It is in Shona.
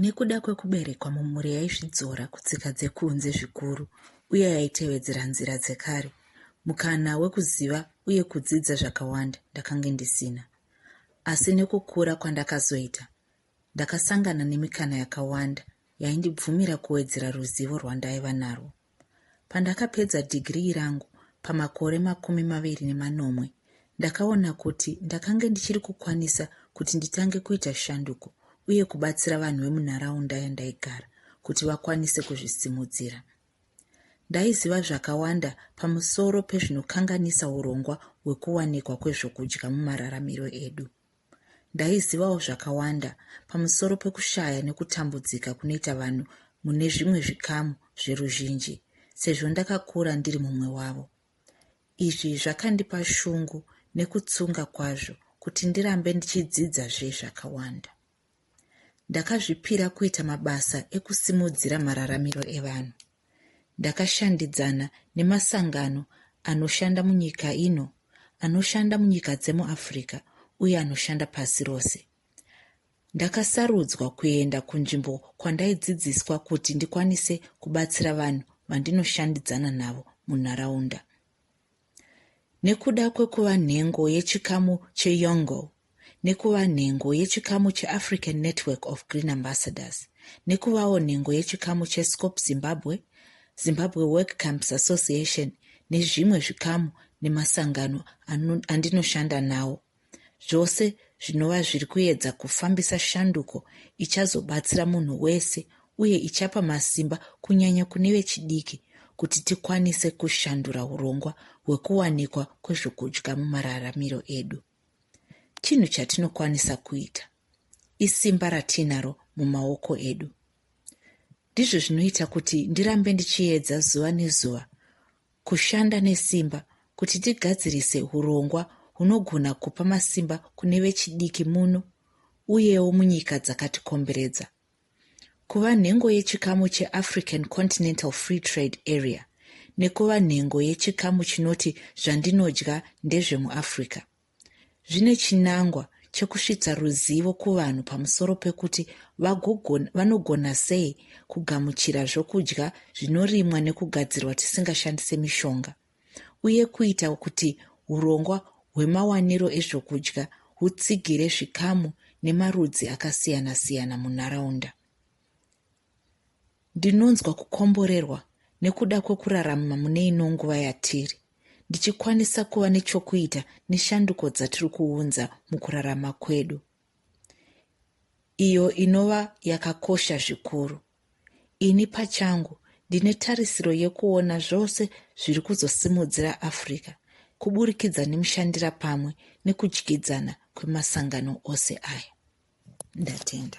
Nekuda kwekuberekwa mumhuri yaizvidzora kutsika dzekunze zvikuru uye yaitevedzera nzira dzekare, mukana wekuziva uye kudzidza zvakawanda ndakange ndisina. Asi nekukura kwandakazoita, ndakasangana nemikana yakawanda yaindibvumira kuwedzera ruzivo rwandaiva narwo. Pandakapedza dhigirii rangu pamakore makumi maviri nemanomwe, ndakaona kuti ndakange ndichiri kukwanisa kuti nditange kuita shanduko uye kubatsira vanhu vemunharaunda yandaigara kuti vakwanise kuzvisimudzira. Ndaiziva zvakawanda pamusoro pezvinokanganisa urongwa hwekuwanikwa kwezvokudya mumararamiro edu. Ndaizivawo zvakawanda pamusoro pekushaya nekutambudzika kunoita vanhu mune zvimwe zvikamu zveruzhinji sezvo ndakakura ndiri mumwe wavo. Izvi zvakandipa shungu nekutsunga kwazvo kuti ndirambe ndichidzidzazve zvakawanda. Ndakazvipira kuita mabasa ekusimudzira mararamiro evanhu. Ndakashandidzana nemasangano anoshanda munyika ino, anoshanda munyika dzemuAfrica uye anoshanda pasi rose. Ndakasarudzwa kuenda kunzvimbo kwandaidzidziswa kuti ndikwanise kubatsira vanhu vandinoshandidzana navo munharaunda. Nekuda kwekuva nhengo yechikamu cheYONGO, nekuva nhengo yechikamu cheAfrican Network of Green Ambassadors, nekuvawo nhengo yechikamu cheScope Zimbabwe, Zimbabwe Work Camps Association nezvimwe zvikamu nemasangano andinoshanda nawo. zvose zvinova zviri kuedza kufambisa shanduko ichazobatsira munhu wese uye ichapa masimba kunyanya kune vechidiki kuti tikwanise kushandura urongwa hwekuwanikwa kwezvokudya mumararamiro edu chinhu chatinokwanisa kuita isimba ratiinaro mumaoko edu ndizvo zvinoita kuti ndirambe ndichiedza zuva nezuva kushanda nesimba kuti tigadzirise hurongwa hunogona kupa masimba kune vechidiki muno uyewo munyika dzakatikomberedza kuva nhengo yechikamu cheafrican continental free trade area nekuva nhengo yechikamu chinoti zvandinodya ndezvemuafrica Zvine chinangwa chekusvitsa ruzivo kuvanhu pamusoro pekuti vanogona sei kugamuchira zvokudya zvinorimwa nekugadzirwa tisingashandise mishonga uye kuita kuti urongwa hwemawaniro ezvokudya hutsigire zvikamu nemarudzi akasiyana-siyana munharaunda. Ndinonzwa kukomborerwa nekuda kwekuraramma mune ino nguva yatiri, ndichikwanisa kuva nechokuita neshanduko dzatiri kuunza mukurarama kwedu, iyo inova yakakosha zvikuru. Ini pachangu ndine tarisiro yekuona zvose zviri kuzosimudzira Africa kuburikidza nemushandira pamwe nekudyidzana kwemasangano ose aya. Ndatenda.